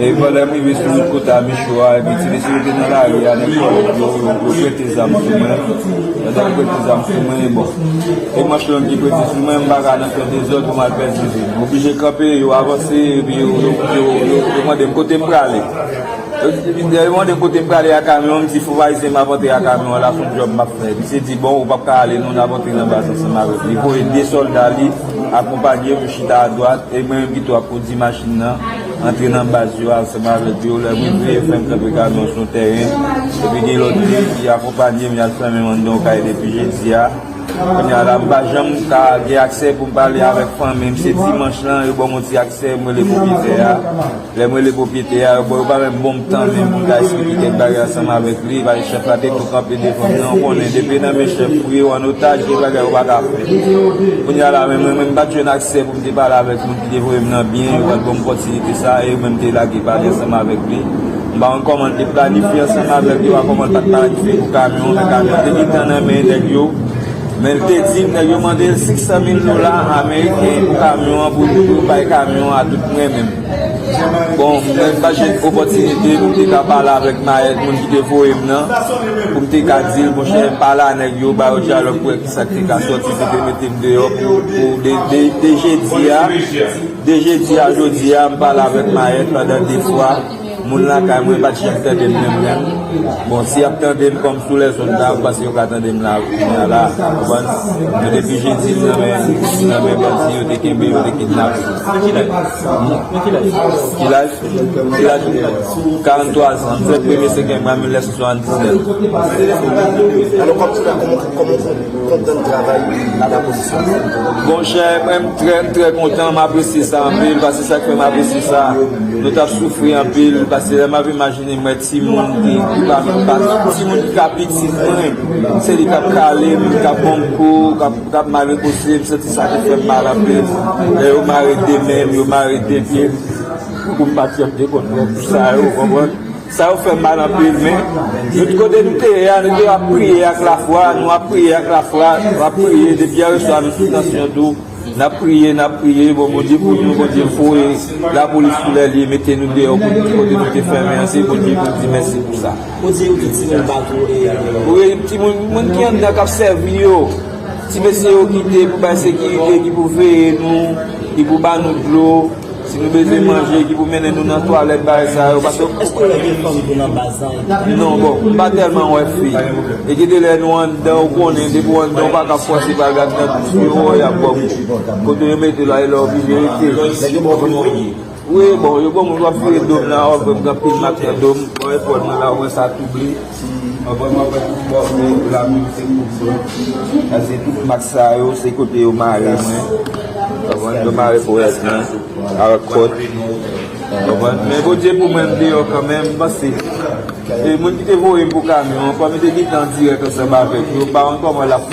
E pandan m rive sou wout kote a Micho a, epi ti mesye yo te nan lari a, nèg kòlèt yo, yo prete zam sou mwen. Pandan yo prete zam sou mwen, e bon, e manch long ki prete sou mwen, m pa ka nan fè dezòd pou m al pèdi vi m. M oblije kanpe, yo avanse, epi yo, yo, yo, yo mande m kote m prale. Lè yo mande m kote m prale a kamyon an, m di fòk Ayisyen m ap antre a kamyon an la, s on djòb m ap fè. Misye di, bon, ou pa p ka ale non, n ap antre nan baz ansanm avèk ou. Li voye de sòlda li akonpanye m, yo chita adwat, e mwen menm pito ap kondi machin nan. Antre nan baz yo ansanm avèk yo lè mwen veye fèm kanpe kamyon sou tèren epi gen lòt nèg ki akonpanyem yal fèmen m anndan yon kay depi jedi a kounye a la m pa janm ka gen aksè pou m pale avèk fanmim se dimanch lan yo banm yon ti aksè m rele pwopyetè a lèm rele pwopyetè a bon yo pa menm banm tan menm pou m ta esplike kèk bagay ansanm avèk li paske chèf la te tou kanpe devanm nan ou konnen depi nan men chèf ou ye ou an otaj gen bagay ou pa ka fè kounye a la menm mwen menm m pat jwenn aksè pou m. M te pale avèk moun ki te voye m nan byen, yo pa t ban m opòtinite sa a e yo menm te lage pale ansanm avèk li. M pa konn kòman l te planifye ansanm avèk yo a kòman l pa t planifye pou kamyon an men kamyon an te gentan nan men nèg yo men l te di m nèg yo mande l 500 mil dola ameriken pou kamyon an pou yo bay kamyon an a tout mwen menm bon mwen m pa t jwenn opòtinite pou m te ka pale avèk mayèt moun ki te voye m nan pou m te ka di l monchè pale a nèg yo ba yo dyalòg pou Sak te ka soti pou te mete m deyò pou de jedi a de jedi a jodi a m pale avèk Maët pandan 2 fwa moun lakay mwen pat janm tande m menm menm bon si yap tande m kòm sou lèzond la ou panse yo ka tande m la kounya la ou konprann men depi jedi m nan men m nan men bandi yo te kenbe yo te kidnape m ki laj ou ki laj ki laj ou ki laj ou 43 zan m fèt premye setenm an 1979 alò kòman se fè Koman ou konprann travay la polis la? Bon chè, mwen m trè trè kontan, m apresye sa anpil, pase sa k fè m apresye sa, nou t ap soufri anpil, pase lè m ap imajine m wè timoun ki pa menm pa timoun ki ka piti mwen, se li k ap kale m, k ap ban m kou, k ap mare kose m, m santi sa te fè m mal anpil, lè yo mare de men m, yo mare de pye m, pou m pa t fè m dekonn, pou sa yo, ou konprann? Sa yo fè mal anpil, men nou t kote nou te ye a nou te ap priye ak lafwa, nou ap priye ak lafwa, nou ap priye depi yèreswa nou sou tansyon tou, nap priye nap priye bon Bondye pou nou Bondye voye lapolis sou lè li mete nou deyò pou tout kote nou te fèmen an se Bondye pou di mèsi pou sa. Ou di ou gen timoun bat ou e. Wi timoun moun ki anndan kap sèvi yo, ti mesye yo kite pou bay sekirite ki pou veye nou, ki pou ba nou dlo, Si nou bezwen manje ki pou mennen nou nan twalèt bagay sa yo paske ou Eske gen fanm tou nan baz la epi Non bon m pa tèlman wè fi e gen de lè nou anndan ou konnen depi ou anndan ou pa ka fòse bagay nan tout yo wè y ap ba w kou kote yo mete la e lè w oblije rete Lè yo ba w moun wap ye Wi bon yo ba w moun wap vire do m la wap wè m gen anpil mak nan do m bon efò nou la ou wè sa twouble. Anvan mwen pran tout fòs mwen pou la mou se kout sou. Pase tout mak sa yo se kote yo mare mwen. Anvan yo mare pou wèz mwen. Awa kòt. Anvan. Men kou dje pou mwen mde yo kan men mwen pase. E moun ki te voye m pou kamyon. Anvan mwen te di tan direk ansan ba vek. Yo pa anvan mwen la.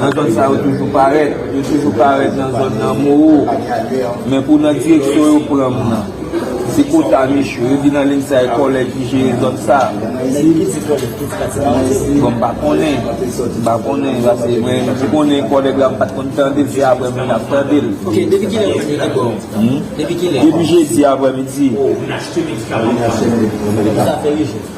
Nan zòn sa yo toujou parèt. Yo toujou parèt nan zòn nan moo. Men pou nan direksyon yo pran m nan. Se kota miche. Yo di nan ling sa e kòlèj ki jere zòn sa. Bon m pa konnen. M pa konnen. Pase mwen m konnen e kòlèg la m pat konn tande l. Se aprè mwen ap tande l. Ok. Depi kilè ou jwenn ak yo? Depi kilè? Depi jedi aprè midi. Depi sa fè 8 jou.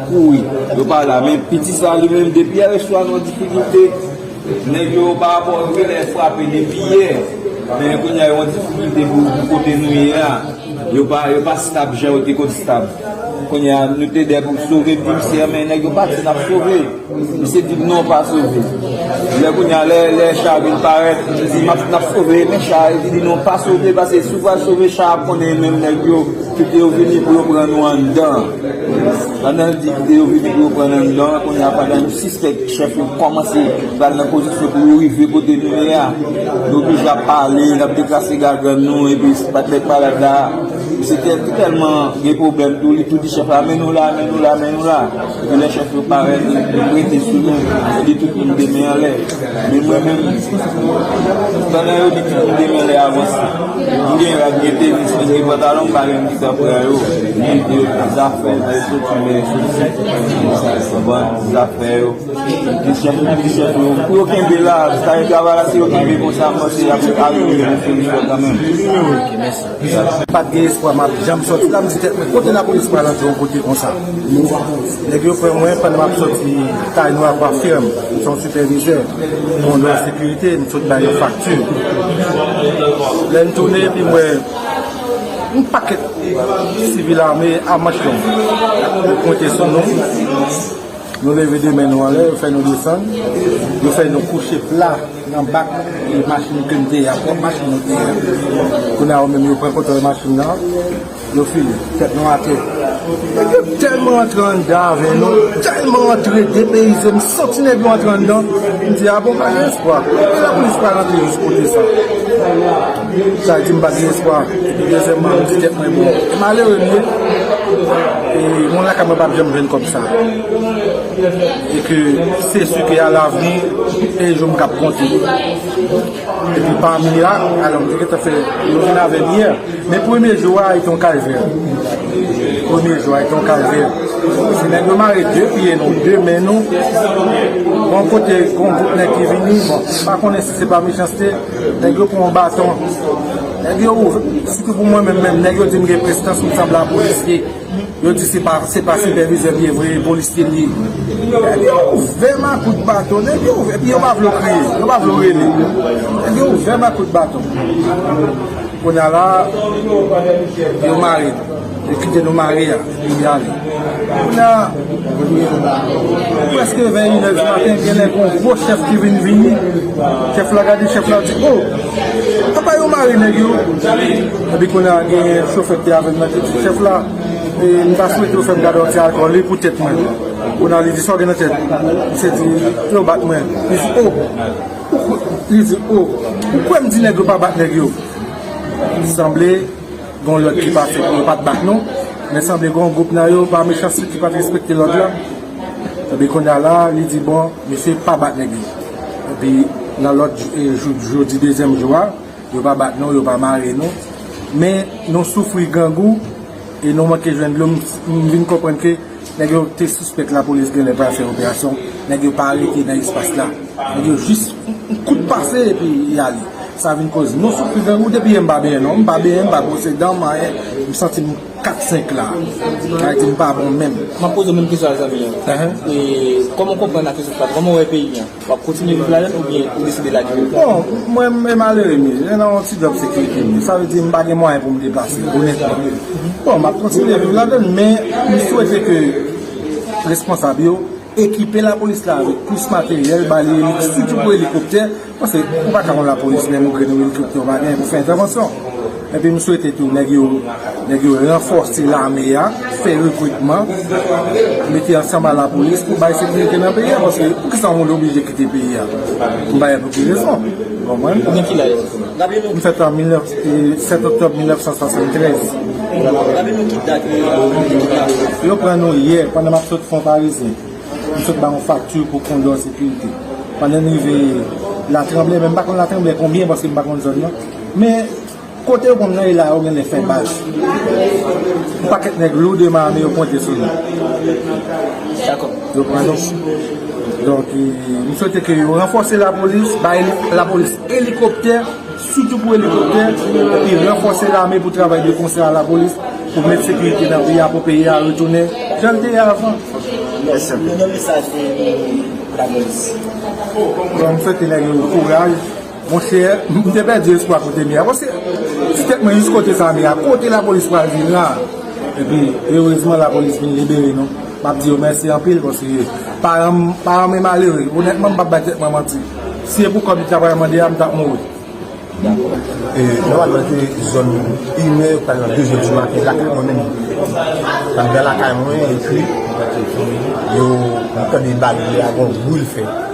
Kouri yo pa la men piti sa li menm depi yè swa nan difikilte nèg yo pa rapò ak yo lè frape depi yè men kounya yo nan difikilte pou kote nou ye a yo pa stab jan yo te konn stab kounya nou te dè pou sove viv chè men nèg yo pa di nap sove misye di non pa sove lè kounya lè cha vin parèt li di nap sove men cha li di non pa sove pase si ou pa sove cha ap konnen menm nèg yo kite yo vini pou yo pran nou anndan. Pandan l di kite yo vini pou yo pran nan nò a kounye a pandan nou sispèk chèf yo kòmanse pral nan pozisyon pou yo rive kote nou ye a nou oblije ap pale n ap deklase gagann nou epi mèt malad la misye te tèlman gen pwoblèm tou li tou di chèf la men nou la men nou la men nou la epi lè chèf yo parèt li prete sou nou li di tout moun gen men anlè. Men mwen menm, pandan yo di pitit de mwen lè avanse, m gen rad, m gen tenis, m gen pantalon, m pa gen ti sa pou ba yo. Men yo di zafè lè yo soti lè yo soti, konprann? Zafè yo, kesyon pou kesyon tou. Pou yo kenbe la, sa yo travay la, si yo kenbe konsa, m panse y ap arive yon solisyon kanmenm. Pat gen espwa map janm soti la, m di tèt mwen kote lapolis pral antre yon kote konsa. Nèg yo pran mwen pandan map soti kay nou avwa fèm, m se yon sipèvizè, yon lwa sekirite, m sot bay yon fakti. Lè m tounen epi m wè yon pakèt sivil ame a manch long, yo pwente sou nou, nou leve de men nou anlè, yo fè nou desann, yo fè nou kouche pla. Nan bak machin kem te ye a pwòp machin mwen te ye a kounye a yo menm yo pran kontwòl machin nan yo fini tèt nou atè nèg yo tèlman antre anndan avè nou tèlman antre depeyize m santi nèg yo antre anndan m di a bon pa gen espwa epi lapolis pa rantre jis kote sa sa di m pa gen espwa epi dezyèman m di tèt mwen bon malere m ye e moun lakay mwen pap janm jwenn kòb sa. E ke se su ke a lavni e jom kap konte. E pi pami ya, alò m te gen ta fè yon vin avè m yè. Men premye jou a e te yon kalvè. Premye jou a e te yon kalvè. Se nèg yo mare de pye nou, de men nou. Bon kote kon gwoup nèg ki vini, bon, pa konnen si se pa mechanste, nèg yo pran yon baton. Nèg yo, sitou pou mwen menm menm, nèg yo di m gen prestans m sanble a polisye. Yo di se pa sipèvizè m ye vre, e polisye m ye. Epi yo ouvè m a kout baton. Epi yo pa vle w kriye. Yo pa vle w rele. Epi yo ouvè m a kout baton. Kounye a la, yo mare m. Yo kite nou mare a, epi yo ale. Kounye a, prèske vè inè di maten, genlè gen yon gwo chèf ki vin vini. Chèf la gade chèf la, li di, O! Apa yo mare nèg yo epi kounye a gen chofè ki avèl nan di chèf la m ta swete ou fèm gade yon ti alkòl wi pou tèt mwen kounye a li di sa w gen nan tèt misye di yo bat mwen li di oh li di oh ou kwè m di nèg yo pa bat nèg yo sanble Gon lòd ki pa fèt yo pat bat nou men sanble gon gwoup nan yo pa mechanste ki pat respekte lòd la epi kounya la li di bon misye pa bat nèg li epi nan lòt jou jodi dezyèm jou a yo pa bat nou yo pa mare nou men nou soufri grangou e nou manke jwenn dlo m vin konprann ke Nèg yo te sispèk lapolis genlè pral fè operasyon, nèg yo pa rete nan espas la. Nèg yo jis yon kout pase epi y ale. Sa vin koz mwen soufri grangou depi yè m pa benyen non. M pa benyen, m pa bwose dan, m anyen. M santi m kat senk la. Bagay di m pa bon menm. M ap poze w menm kesyon ak zanmi an. Kòman w konprann ak rezilta l? Kòman w wè peyi an? Wap kontinye viv ladann oubyen ou deside lage l? Bon, mwen e malere m ye. Mwen nan yon ti djòb sekirite m ye. Sa vle di m pa gen mwayen pou m deplase, onètman. Bon, map kontinye viv ladann l, men m swete ke responsab yo ekipe lapolis la avèk plis materyèl, ba li elik, sitou pou elikoptè, paske ou pa ka konn lapolis menm ou grenn yon elikoptè ou pa genyen pou fè entèvansyon. Epi m swete tou nèg yo nèg yo ranfòse lame a, fè rekritman, mete ansanm a lapolis pou bay sekirite nan peyi a paske poukisa yon moun oblije kite peyi a m pa wè pou ki rezon ou konprann. Ou gen ki laj? M fèt an 7 oktòb 1973. Yo pran nou yè pandan m ap sot Fonparizyen. M sot ba yon fakti pou kondò sekirite. Pandan m rive Latranblè men m pa konn Latranblè konbyen paske m pa konn zòn nan. Men kote yo konn rele la yo genlè fè bach. Yon pakèt nèg lou de mame yo pwente sou nou. Dakò. Yo pran nou. Donk, m swete ke yo ranfòse lapolis, bay lapolis elikoptè, sitou pou elikoptè, epi ranfòse lame pou travay de konsè a lapolis, pou met sekirite nan peyi a, pou peyi a retounen jan l te ye avan. Mèsi anpil. Yon mesaj pou lapolis. M swete nèg yo kouraj. Monchè m te pèdi espwa kote Mia pase ti tèt mwen jis kote sa Mia kote lapolis pral vin la epi erezman lapolis vin libere nou map di yo mèsi anpil paske paranm paranm e malere onètman m pap bay tèt mwen manti si e pou kòb li ta pral mande a m tap mouri. E nòmalman se zòn inè pou ta nan dezyèm di maten lakay mwen menm andan lakay mwen epi yo m tande bal li a gon bri l fè.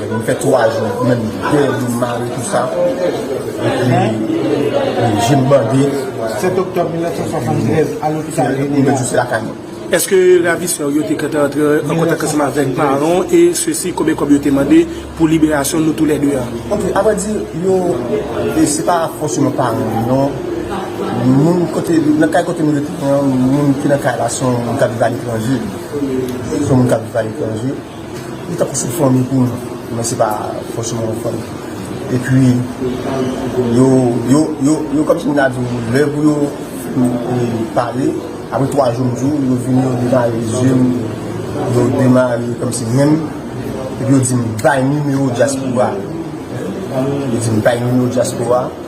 Mwen fè 3 jou menm dèyè doum mare tout sa epi jem bandi. 7 oktòb 1973 a lopital René Léa. Mwen se lakay mwen. Eske ravisè w yo te kante antre an kontak ansanm avèk paran w e se si konbyen kòb yo te mande pou liberasyon nou tou lè 2 a? Ok, a vrè di yo e se pa fòseman paran m non, moun kote nan kay kote m rete moun ki nan kay la se yon moun k ap viv aletranje se yon moun k ap viv aletranje. Li ta pase fòm li pou nou men se pa fòseman yon fòm. E pi yo, yo, yo, yo kòmsi m ta di w lè pou yo pale apre 3 jou m di w yo vini yo demare zye m, yo demare kòmsi men m epi yo di m bay nimewo dyaspora, yo di m bay nimewo dyaspora.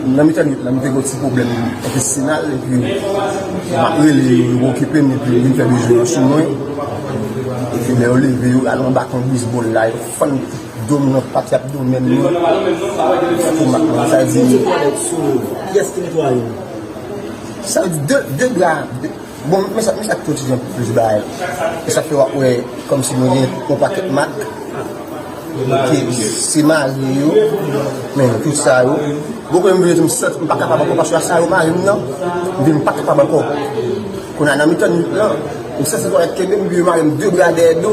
Nan mitan nwit la, m te gen yon ti pwoblèm entesinal epi m ap rele yo, yo okipe m epi yo vin fè bezwen yo sou mwen. Epi lè yo leve yo, yo al anba kon bisbòl la, yo fann do m nan pat, y ap do men mwen. Sa vle di, de bra, de. Bon men sa ak tout jan pou plis bagay e sa fè wap wè kòm si nou gen yon pakèt mak ki se marye yo men tout sa yo bon kote m vle di m sot m pa kapab ankò paske a sa yo mare m nan m di m pa kapab ankò kounye a nan mitan nwit lan m santi m konn ap kenbe m byen mare m de bra dèyè do.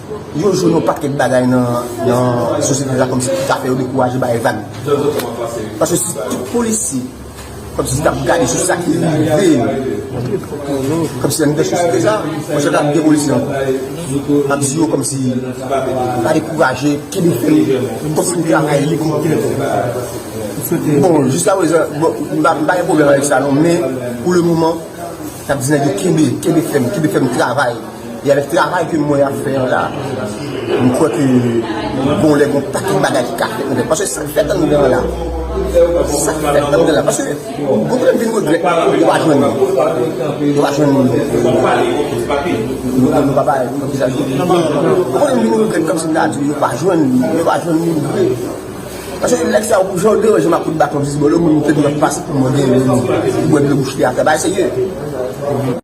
Yon jou yon pakèt bagay nan sosyete la kòmsi ki ka fè yo dekouraje bay vag. Paske si tout polisye kòmsi tap gade sou sa ki rive yo, kòmsi anndan sosyete sa, mwen chè tap gen polisye ankò. Map di yo kòmsi pa dekouraje, kenbe fèm, kontinye travay li kou pou li. Bon, jiska prezan, m pa gen pwoblèm avèk sa non, men pou le moman, nap di nèg yo kenbe, kenbe fèm, kenbe fèm travay. E avèk travay ke mwen ap fè an la, m kwè ke gon lè gon pakèt bagay ki ka fèt nan tèt. Paske sa k fèt anndan an la, sa k fèt anndan an la. Paske gon lè m vin regrèt nou pa jwenn moun. Nou pa jwenn moun. Nou pa pale pou nou vizaje. Gon lè m vin regrèt kòmsi m ta di nou pa jwenn moun. Nou pa jwenn moun vre. Paske nèg sa yo, jan yo deranje m ak kout baton dizbòlò, moun te dwe fas pou mwen genyen moun. Mwen dwe bouche te atè. Bagay serye.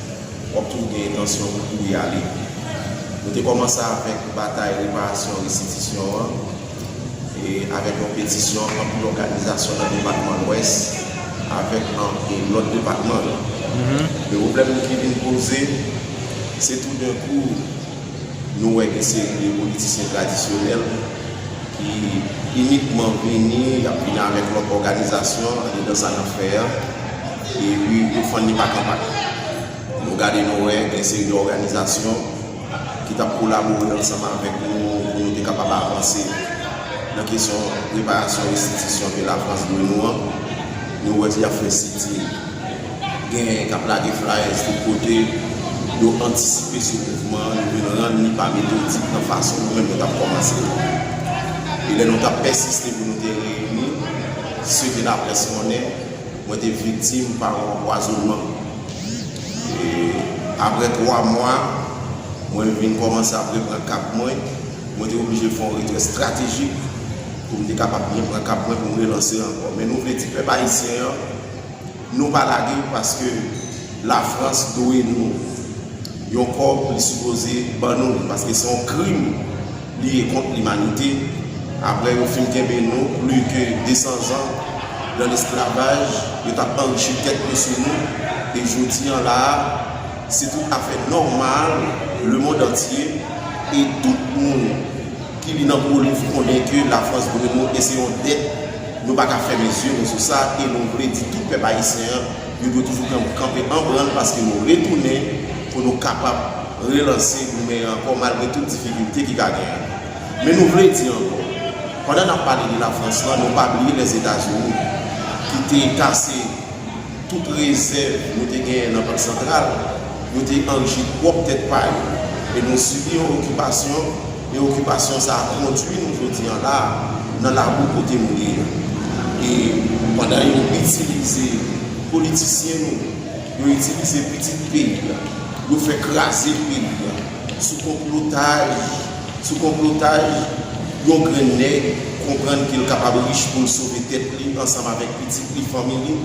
Wap toujou gen entansyon pou kouri ale. Nou te kòmanse avèk batay reparasyon restitisyon an e avèk yon petisyon anpil òganizasyon nan depatman Lwès avèk anpe lòt depatman yo. Men pwoblèm ki vin poze, se tou den kou nou wè gen seri de politisyen tradisyonèl ki inikman vini, yap vini avèk lòt òganizasyon andedan sa nap fè an. Epi tout fàn li pa kanpay. Nou gade nou wè gen seri de òganizasyon ki t ap kolabore ansanm avèk nou pou nou te kapab avanse nan kesyon reparasyon restitisyon ke Lafrans dwe nou an. Nou wè y ap fè sitin, genyen k ap lage flayèz tout kote. Yo antisipe sou mouvman an, yo vin rann li pa metodik nan fason nou menm nou t ap kòmanse l la. E lè nou t ap pèsiste pou nou te reyini, se ke laprès konnen, Mwen te viktim pa yon anpwazonnman. E apre 3 mwa, mwen vin kòmanse ap repran kap mwen. Mwen te oblije fè yon retrè estratejik pou m te kapab byen pran kap mwen pou m relanse ankò. Men nou vle di pèp ayisyen an, nou pa lage paske Lafrans dwe nou yon kòb li sipoze ban nou li paske se yon krim. Li e kont limanite. Aprè yo fin kenbe nou pli ke 200 zan nan lesklavaj, yo t ap anrichi tèt yo sou nou, e jodi an la a, se tout afè nòmal lemond antye, e tout moun ki li nan po liv konnen ke Lafrans dwe nou, e se yon dèt nou pa ka fèmen zye nou sou sa, e nou vle di tout pèp ayisyen an, yo dwe toujou kanpe anbrann paske nou retounen pou nou kapab. relanse Boumen an ankò malgre tout difikilte ki ka genyen. Men nou vle di ankò, pandan n ap pale de Lafrans lan, nou pa bliye Lèzetazini ki te kase tout rezèv yo te genyen nan Bank Santral, yo te anrchi pwòp tèt pa yo e nou sibi yon okipasyon e okipasyon sa a kondui nou jodi an la a nan labou kote nou ye a. E pandan yo itilize politisyen nou. Yo itilize pitit peyi a. Yo fè kraze peyi a. Sou konplotaj, sou konplotaj, yon grenn nèg konprann ke l kapab rich pou l sove tèt li ansanm avèk pitit li, fanmi li.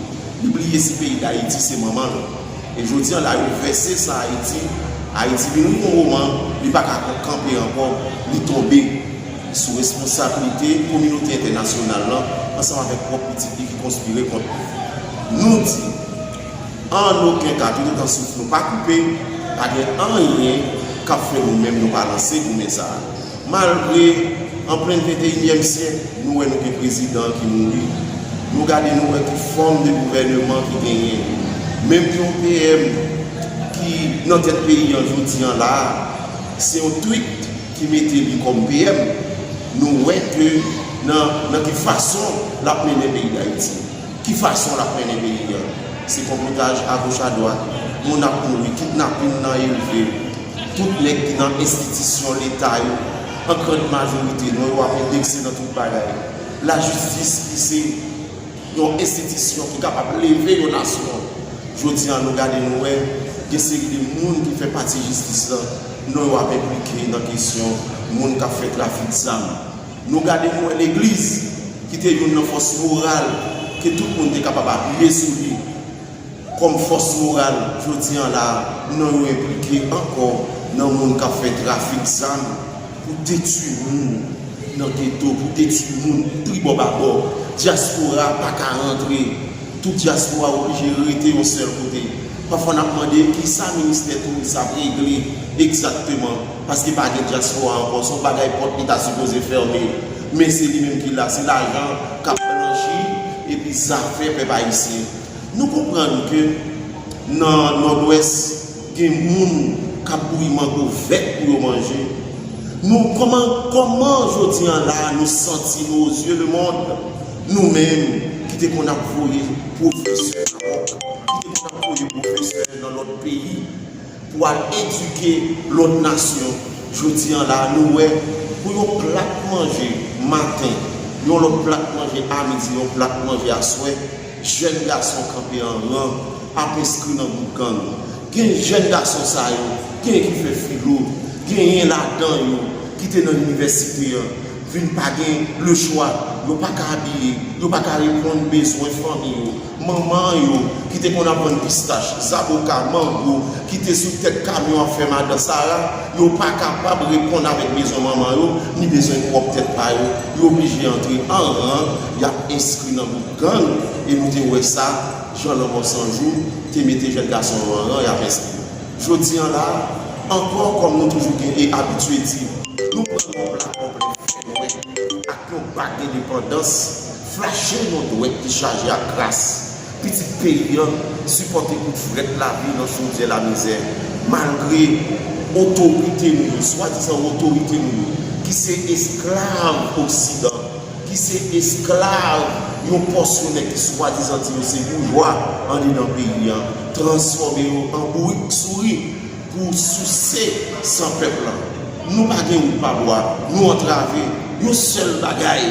Li bliye si peyi Dayiti se manman l. E jodi an la yo vèse san Ayiti. Ayiti vin yon moman li pa ka kanpe ankò, li tonbe. Li sou responsablite kominote entènasyonal lan ansanm avèk pwòp pitit li ki konspire kont li. Nou di, An oken ka, toutotan souf nou pa koupe, pa gen anyen k ap fè nou menm nou pa lanse goumen sa a. Malgre, an plen venteyinyèm syèk, nou wè nou gen prezidan ki mouri, nou gade nou wè ki fòm de gouvèneman ki genyen, menm yon PM ki nan tèt peyi an jodi an la a, se yon twit. ki mete li kòm PM nou wè ke nan nan ki fason lap mennen peyi dayiti ki fason lap mennen peyi an se konplotaj agoch adwat moun ap mouri kidnapin nan elve tout nèg ki nan enstitisyon leta yo an grand majorite non yo ap endekse nan tout bagay lajistis ki se. Yon enstitisyon ki kapab leve yon nasyon. Jodi a nou gade nou wè gen seri de moun ki fè pati jistis lan non yo ap enplike nan kesyon moun kap fè trafik zam. Nou gade nou wè legliz ki te youn nan fòs moral ke tout moun te kapab apiye sou li. kòm fòs moral jodi an la non yo enplike ankò nan moun kap fè trafik zam pou detwi moun nan geto pou detwi moun tribò babò dyaspora paka rantre tout dyaspora oblije rete yon sèl kote pafwa nap mande kisa ministè touris ap regle egzakteman paske pa gen dyaspora ankò son bagay pòt li ta sipoze fème men se li menm ki la se lajan kap blanchi epi zafè pèp ayisyen. Nou konprann ke nan Nòdwès gen moun k ap bouyi mango vèt pou yo manje. Nou kòman kòman jodi an la nou santi nou ozye lemond, nou menm ki te konn ap voye pwofesè Maròk, ki te konn ap voye pwofesè nan lòt peyi pou al edike lòt nasyon, jodi an la nou wè pou yon plat manje maten, yon lòt plat manje a midi, yon plat manje aswè. Jèn gason kanpe an ran, ap enskri nan gwoup gang. Gen jèn gason sa yo, gen ki fè filo, genyen ladan yo ki te nan inivèsite an, vin pa gen lechwa, yo pa ka abiye, yo pa ka reponn bezwen fanmi yo. Manman yo, ki te konn ap vann pistach, zaboka, mango, ki te sou tèt kamyon ap fè madan sara, yo pa kapab reponn avèk bezwen manman yo, ni bezwen pwòp tèt pa yo. Yo oblije antre an ran, y ap enskri nan gwoup. Gang e nou te wè sa jan lanmò san jou te mete jèn gason yo an ran y ap enskri. Jodi an la ankò kòm nou toujou gen e abitye di nou pran yon pla konplè fè nwè ak yon bak endepandans flache yon dwèt ki chaje ak kras pitit peyi an sipòte kout frèt lavi nan chodyè lamizè malgre otorite nou yo swadizan otorite nou yo ki se esklav oksidan ki se esklav yon pòsyon nèg ki swadizan di yo se boujwa andedan peyi an, transfòme yo an bourik souri pou souse san pèp lan. Nou pa gen wout pa bwa, nou antrave, yon sèl bagay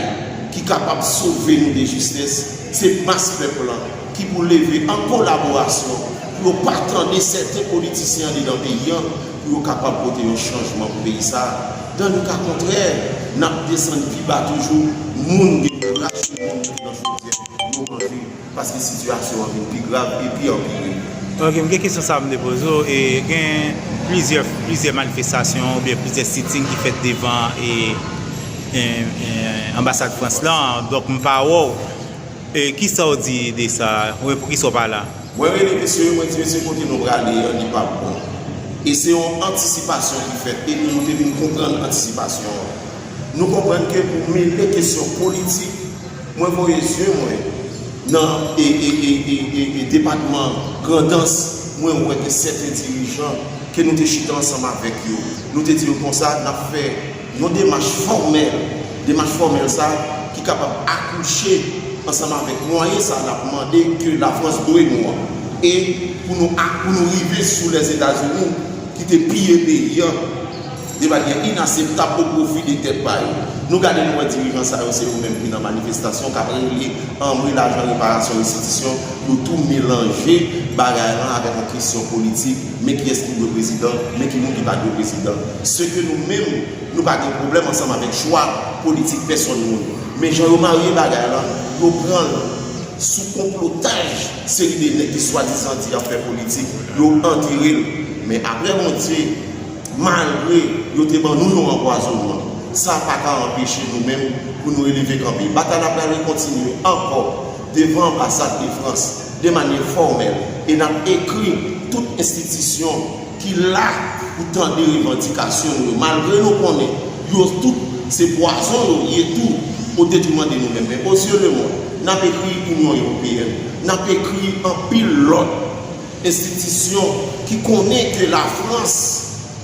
ki kapab sove nou de jistis, se mas pèp lan ki pou leve an kolaborasyon pou yo pa tande sèten politisyen andedan peyi an Pou yo kapab pote yon chanjman pou peyi sa a. Dan le ka kontrè, n ap desann pi ba toujou, moun gen pou rache moun jouk nan chodyè pou yo manje, paske sitiyasyon an vin pi grav e pi anpire. Ok, m gen kesyon sa m vle poze w, e gen plizyè plizyè manifestasyon oubyen plizyè sitting ki fèt devan e anbasad Frans lan, donk m pa wè w. E kisaw di de sa repris ou pa la. Mwen rele mesye yo mwen di mesye kote nou prale an li pap bon e se yon antisipasyon ki fèt epi nou te vin konprann antisipasyon an nou konprann ke pou mele kesyon politik mwen voye zye mwen nan e e e e e e depatman grandans mwen wè ke sèten dirijan ke nou te chita ansanm avèk yo nou te di yo konsa nap fè Yon demach fòmèl, demach fòmèl sa ki kapab akouche ansanm avèk mwayen sa n ap mande ke Lafrans dwe nou an. E pou nou ak pou nou rive sou Lèzetazini ki te piye peyi an de manyè inaseptab o pwofi de tèt pa yo. Nou gade nou wè dirijan sa yo se yo menm ki nan manifestasyon k ap regle anmwe lajan reparasyon restitisyon yo tou melanje bagay lan avèk yon kesyon politik. Men kiyès ki dwe prezidan, men ki moun ki pa dwe prezidan. Se ke nou menm, nou pa gen pwoblèm ansanm avèk chwa politik pèsòn moun. Men jan yo marye bagay la, yo pran l sou konplotaj seri de nèg ki swadizan di y ap fè politik, yo antere l. Men apre Bondye, malgre yo te ban nou yon anpwazonnman, sa pa ka anpeche nou menm pou nou releve kanpe. Batay la pral rekontinye ankò devan anbasad de Frans. de manye fòmèl e nap ekri tout enstitisyon ki la pou tande revandikasyon nou yo malgre nou konnen yo tout se pwazon yo ye tou o detriman de nou menm men o zye lemond nap ekri Inyon Ewopeyèn nap ekri anpil lòt enstitisyon ki konnen ke la Frans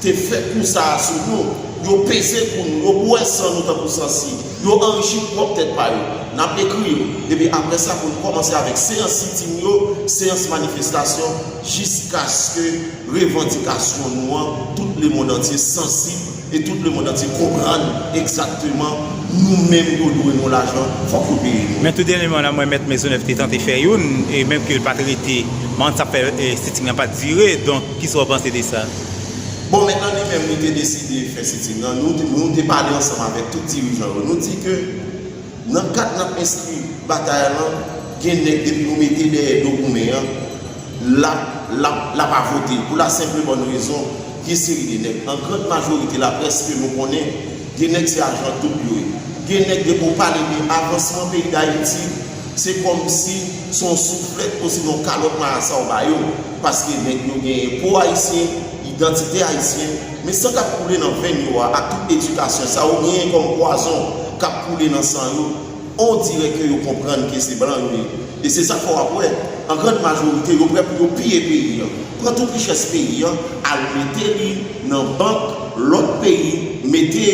Te fè kou sa a sou nou. Yo peze kou nou. Yo bwè san nou tankou san si. Yo anrichi pwòp tèt pa yo. N ap ekri yo. Epi apre sa pou n kòmanse avèk seyans sitin yo, seyans manifestasyon, jiskaske revandikasyon nou an, tout lemond antye sansib e tout lemond antye konprann egzakteman nou menm yo dwe nou lajan, fòk yo peye nou. Men tou dènyeman la mwen mèt Mezonèf te tante fè youn e menm ke l pa t rete, mwen annik sa k fè sitting lan pa t dire. Donk, kisa w panse de sa? Bon men an li menm li te deside fè sitin nan, nou te pale ansanm avèk tout dirijan yo, nou di ke nan kad n ap enskri batay lan, gen nèg depi nou mete dèyè do goumen an, l ap avote pou la senp e bòn rezon, gen seri de nèg, an grand majorite la près ke nou konnen, gen nèg se ajan doub yo ye, gen nèg depi w pale de avansman peyi Dayiti. Se kòmsi se yon souflèt osinon yon kalòt marasa w ba yo, paske nèg yo genyen po ayisyen, idantite ayisyen, men san k ap koule nan venn yo a ak tout edikasyon sa yo genyen kòm pwazon k ap koule nan san yo, ondirè ke yo konprann ke se blan yo ye. E se sa k fè w ap wè, an grand majorite, yo prè pou yo piye peyi an, pran tout richès peyi an, al mete li nan bank lòt peyi, mete,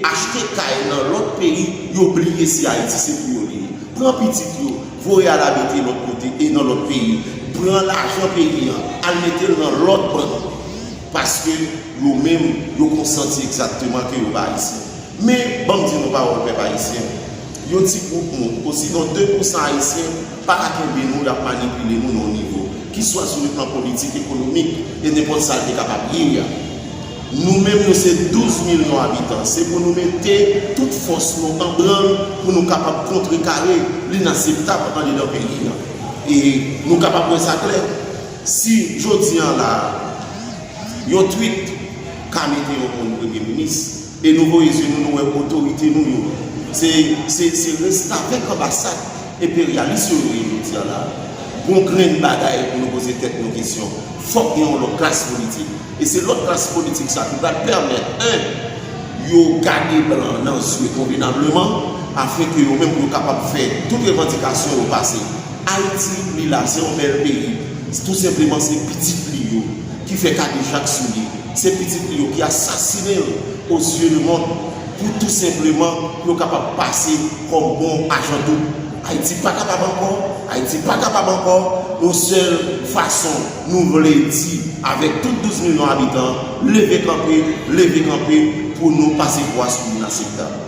achte kay nan lòt peyi, Yo bliye si Ayiti se pou yo li ye. Pran pitit yo, voye al abite lòt kote e nan lòt peyi. Pran lajan peyi an, al mete l nan lòt bank. Paske yo menm, yo konn santi egzakteman ke yo pa Ayisyen. Men, ban m di nou pawòl pèp Ayisyen, yon ti gwoup moun, osinon 2 pou san Ayisyen, pa ka kenbe nou, y ap manipile nou nan yon nivo, ki swa sou le plan politik, ekonomik, e nenpòt sa l te kapab ye a. Nou menm nou se 12 milyon abitan, se pou nou mete tout fòs nou an branl pou nou kapab kontrekare linaseptab andedan peyi a. E nou kapab wè sa klè, si jodi an la a, yon tweet ka mete yon moun premye minis, e nou voye zye nou nou wè otorite nou yo, se restavèk anbasad enperyalis yo yo ye jodi an la a. Gon grenn bagay pou nou poze tèt nou kesyon, fòk gen yon lòt klas politik. E se lòt klas politik sa ki pral pèmèt 1 yo gade blan nan zye konvenableman afin ke yo menm yo kapab fè tout revandikasyon yo pase. Ayiti li la se yon bèl peyi, tou senpleman se pitit li yo ki fè kadejak sou li, se pitit li yo ki asasinen l o zye le mond pou tou senpleman pou yo kapab pase kòm bon ajan doub. Ayiti pa kapab ankò, Ayiti pa kapab ankò, yon sèl fason. Nou vle di, avèk tout 12 milyon abitan, leve kanpe, leve kanpe pou nou pase pwa sou Inaseptab.